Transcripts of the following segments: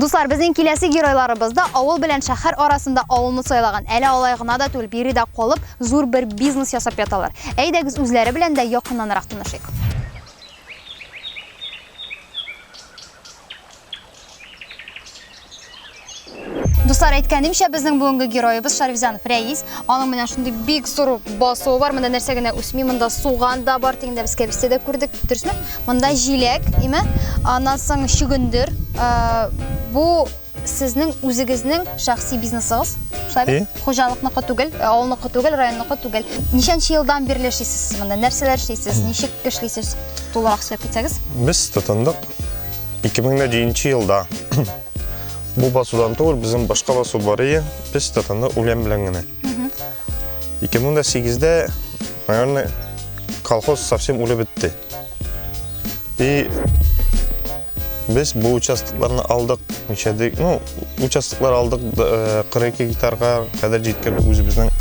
Дуслар, безнең киләсе геройларыбыз да авыл белән шәһәр арасында авылны сайлаган. Әле алай гына да түгел, биредә калып, зур бер бизнес ясап яталар. Әйдәгез үзләре белән дә якыннанрак танышыйк. Дуслар, әйткәнемчә, безнең бүгенге героебыз Шарифзанов Рәис. Аның менә шундый бик зур басуы бар. Монда нәрсә генә үсми, монда суган да бар, тегендә без кәбестә дә күрдек, дөресме? Монда җиләк, име? Аннан соң чөгендер. Ә, бу сезнең үзегезнең шәхси бизнесыгыз, шулай бит? Э? Хуҗалыкныкы түгел, э, авылныкы түгел, районныкы түгел. Ничәнче елдан бирле эшлисез сез монда? Нәрсәләр эшлисез? Ничек эшлисез? Тулырак сөйләп китсәгез. Без тотындык 2007 елда бу басудан түгел, безнең башка басу бар иде, без татаны үлән белән генә. 2008-дә, наверное, колхоз совсем үлеп бетте. И без бу участокларны алдык, ничәдик, ну, участоклар алдык 42 э, гектарга кадәр җиткән үзебезнең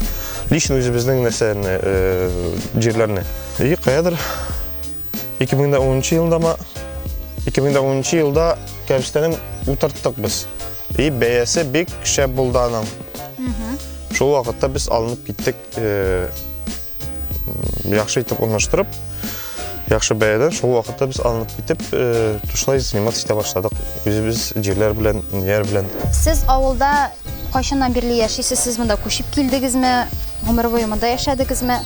лично үзебезнең нәрсәне, э, җирләрне. И каядыр 2010 елында ма 2010 елда кәбестәнен утырттык без и бәясе бик шәп булды аның шул вакытта без алынып киттек э, яхшы итеп урнаштырып яхшы бәядән шул вакытта без алынып китеп э, тушлай заниматься итә башладык үзебез җирләр белән нияр белән сез авылда кайчаннан бирле яшисез сез монда күчеп килдегезме гомер буе монда яшәдегезме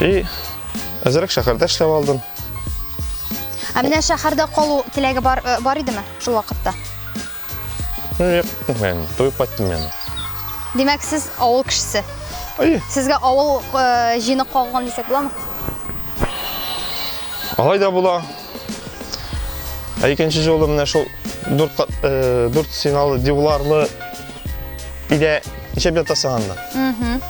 И әзерәк шәһәрдә эшләп алдым. Ә менә шәһәрдә калу теләге бар э, бар идеме шул вакытта? Юк, мен, туеп кайттым мен. Димәк, сез авыл кешесе. Ай. Сезгә авыл э, җины кагылган дисәк буламы? Алай да була. Ә икенче жолы менә шул дүрт э, дүрт сигналы диварлы идә ишәп ятасың анда. Мм.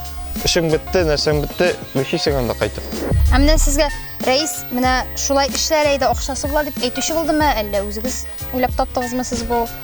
Эшең бетте, нәрсәң бетте, бишисең анда кайтып. Ә менә сезгә Рәис, менә шулай эшләр әйдә, акчасы була дип әйтүче булдымы, әллә үзегез уйлап таптыгызмы сез бу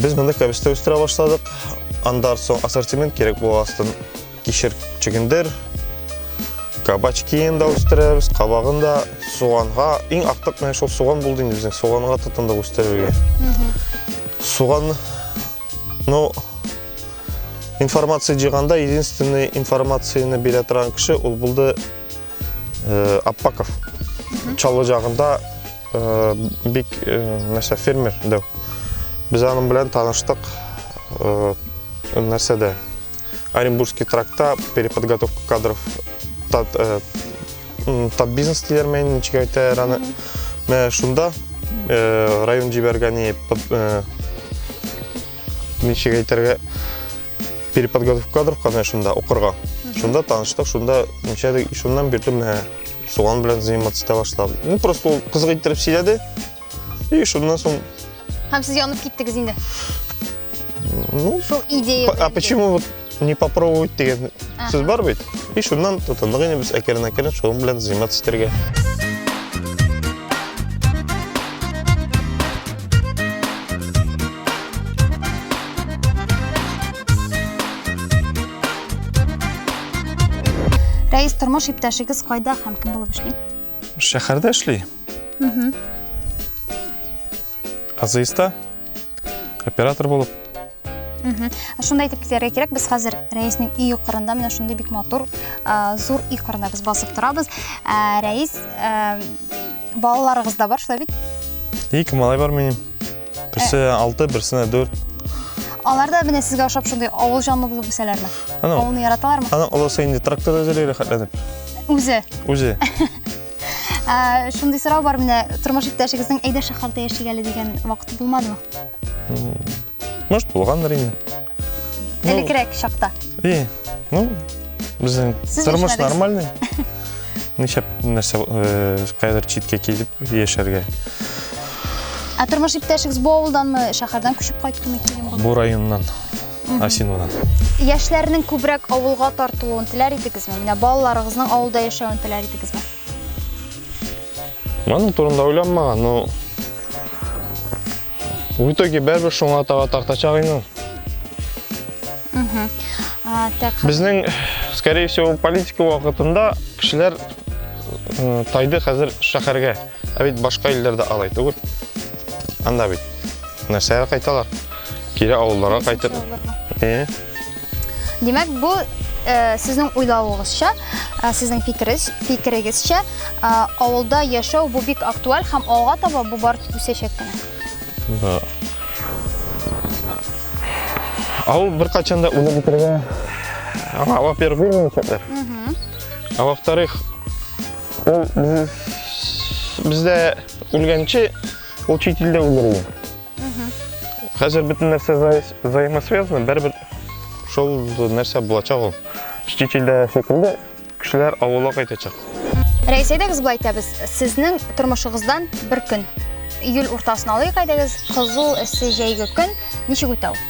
Без монда кәбестә үстерә башладык. Андар соң ассортимент кирәк була астын. Кишер чөгендер, кабачкин да үстерәбез, кабагын да, суганга. Иң актык менә шул суган булды инде безнең. Суганга тотындык үстерергә. Суган, ну, информация җыйганда единственный информацияне бирә торган кеше ул булды э, Аппаков. Чаллы җагында Бик, нәрсә, фермер дәү. Без аның белән таныштык. Нәрсә дә, Оренбургский тракта переподготовка кадров тат э, бизнес диләр мәйін ничек әйтә раны мә шунда э, район җибәргән э, ничек әйтергә переподготовка кадров казан шунда укырга шунда таныштык шунда ничәдә шуннан бирле менә суган белән заниматься итә башлады ну просто ул кызык иттереп сөйләде и шуннан соң һәм сез янып киттегез инде ну шул идея а почему вот не попробовать деген сүз бар бит и шуннан тотындык инде без әкрен әкрен шуның белән заниматься итәргә Рәис, тормыш иптәшегез кайда һәм кем булып эшли? Шәһәрдә эшли. Угу. Азыйста оператор булып. Угу. Шунда әйтеп китәргә кирәк, без хәзер Рәиснең өй юқырында, менә шундый бик матур, зур өй кырында без басып торабыз. Рәис, Балаларыгыз да бар, шулай бит? Ике малай бар минем. Берсе 6, э. берсенә 4. Алар да менә сезгә ошап шундый авыл җанлы булып үсәләрме? Авылны яраталармы? Аның олысы инде тракторда эзли рәхәтләнеп. Үзе. Үзе. Ә, шундый сорау бар менә тормыш иптәшегезнең әйдә шәһәрдә яшик әле дигән вакыты булмадымы? Может, булгандыр инде. Элекрәк чакта. И, ну, безнең тормыш нормальный. Ничәп нәрсә кайдыр читкә килеп яшәргә. Ә тормыш иптәшегез бу авылданмы, шәһәрдән күчеп кайттымы килен булды? Бу районнан, Асинодан. Яшьләрнең күбрәк авылга тартылуын теләр идегезме? Менә балаларыгызның авылда яшәвен теләр идегезме? Моның турында уйланмаган, но В итоге бәрбір шуңа тага тартачак инде. Безнең, скорее всего, политика вакытында кешеләр тайды хәзер шәһәргә. Ә бит башка илләрдә алай түгел. Анда бит нәрсәгә кайталар? Кире авылларга кайтып. Э? Димәк, бу э, сезнең уйлавыгызча, э, сезнең фикерез, фикерегезчә, э, авылда яшәү бу бик актуаль һәм алга таба бу бар үсәчәк кенә. Да. Авыл беркайчан да үлеп бетергә аңа авап береп бирмәячәкләр. Ә во-вторых, ул без- бездә үлгәнче ул чит илдә үлергә. Хәзер бөтен нәрсә взаимосвязано, бер-бер шул нәрсә булачак ул. Штичилдә шикелле кешеләр авылга кайтачак. Рәис, әйдәгез былай итәбез. Сезнең тормышыгыздан бер көн. Июль уртасын алыйк, әйдәгез. Кызу, эссе, җәйге көн. Ничек үтә ул?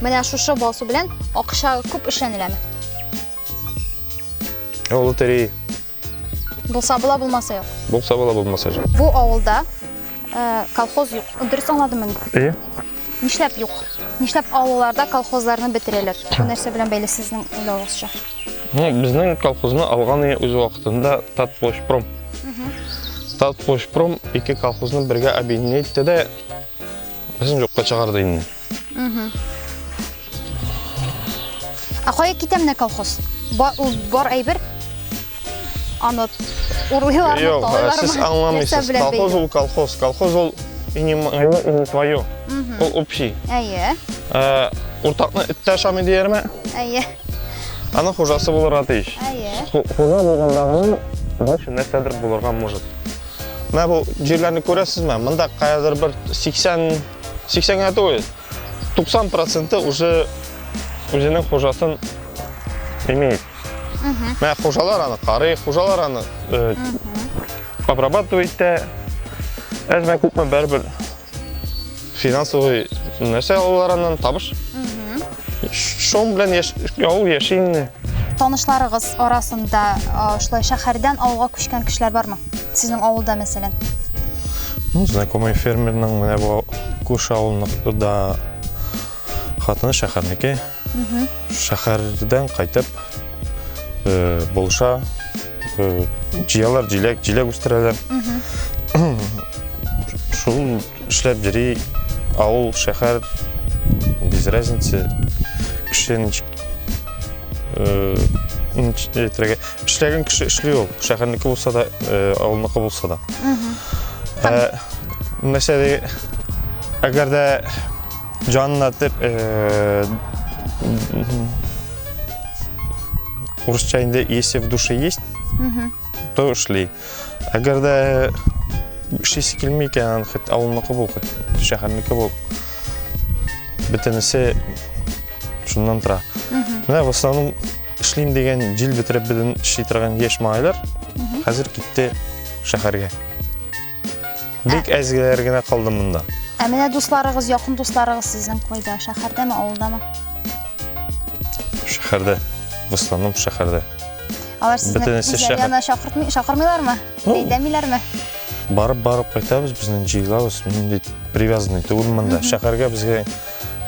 Менә шушы басу белән акча күп эшләнеләме? Ә ул лотерея. Булса була, булмаса юк. Булса була, булмаса юк. Бу авылда э, колхоз юк. Дөрес аңладыммы? Әйе. Нишләп юк? Нишләп авылларда колхозларны бетерәләр? Бу нәрсә белән бәйле сезнең уйлавыгызча? Ну, безнең колхозны алган иде үз вакытында Татплощпром. Татплощпром ике колхозны бергә объединить итте дә, безнең юкка чыгарды инде. Ә кая китә менә колхоз? Бар әйбер? Аны урлыйлармы, Юк, сез аңламыйсыз. Колхоз ул колхоз. Колхоз ул и не мое, и не твое. Ул общий. Әйе. Э, Уртакны эттә ашамый диярме? Әйе. Аның хужасы булырга тиеш. Әйе. Хужа булгандагы больше нәрсәдер булырга может. Менә бу җирләрне күрәсезме? Монда каядыр бер 80 80 генә түгел 90 проценты уже үзенең хужасын имеет менә хужалар аны карый хужалар аны э, обрабатывать итә әзме күпме бәрібір финансовый нәрсә алалар аннан табыш Шул белән яш... ул яши инде. Танышларыгыз арасында шулай шәһәрдән авылга күчкән кешеләр бармы? Сезнең авылда, мәсәлән? Ну, знакомый фермерның менә бу күрше авылныкда хатыны шәһәрнеке. Шәһәрдән кайтып э, булша э, җыялар, җиләк, җиләк үстерәләр. Шул Эшләп йөри, авыл, шәһәр, без разница. Кеше ничек э, әйтергә. Эшләгән кеше эшли ул. Шәһәрнеке булса да, э, авылныкы булса да. Э, мәсәлән, әгәр дә җанына дип э, урысча инде если в душе есть, то эшли. Әгәр дә эшлисе килми икән, хит авылныкы бул, хит шәһәрнеке бул. Бөтенесе шуннан тора. Менә в основном эшлим дигән җил бетереп белән эшли торган яшь малайлар хәзер китте шәһәргә. Бик әз геләр генә калды монда. Ә менә дусларыгыз, якын дусларыгыз сезнең кайда? Шәһәрдәме, авылдамы? Шәһәрдә. Дусларым шәһәрдә. Алар сезне Бөтенесе үзләре шәһәр. янына чакыртмый, чакырмыйлармы? Ну. Әйдәмиләрме? Барып барып кайтабыз, безнең җыелабыз. Мин инде привязанный түгел монда. Шәһәргә безгә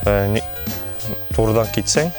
э, ни- турыдан китсәң,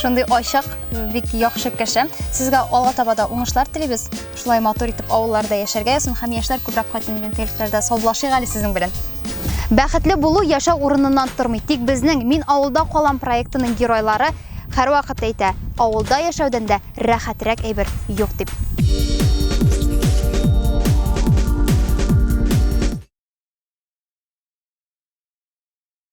Шундый ачык, бик яхшы кеше. Сезгә алга таба да уңышлар телибез. Шулай матур итеп авылларда яшәргә ясын һәм яшьләр күбрәк кайтсын дигән теләкләрдә саубуллашыйк әле сезнең белән. Бәхетле булу яшәү урыныннан тормый. Тик безнең Мин авылда калам проектының геройлары һәрвакыт әйтә, авылда яшәүдән дә рәхәтрәк әйбер юк дип.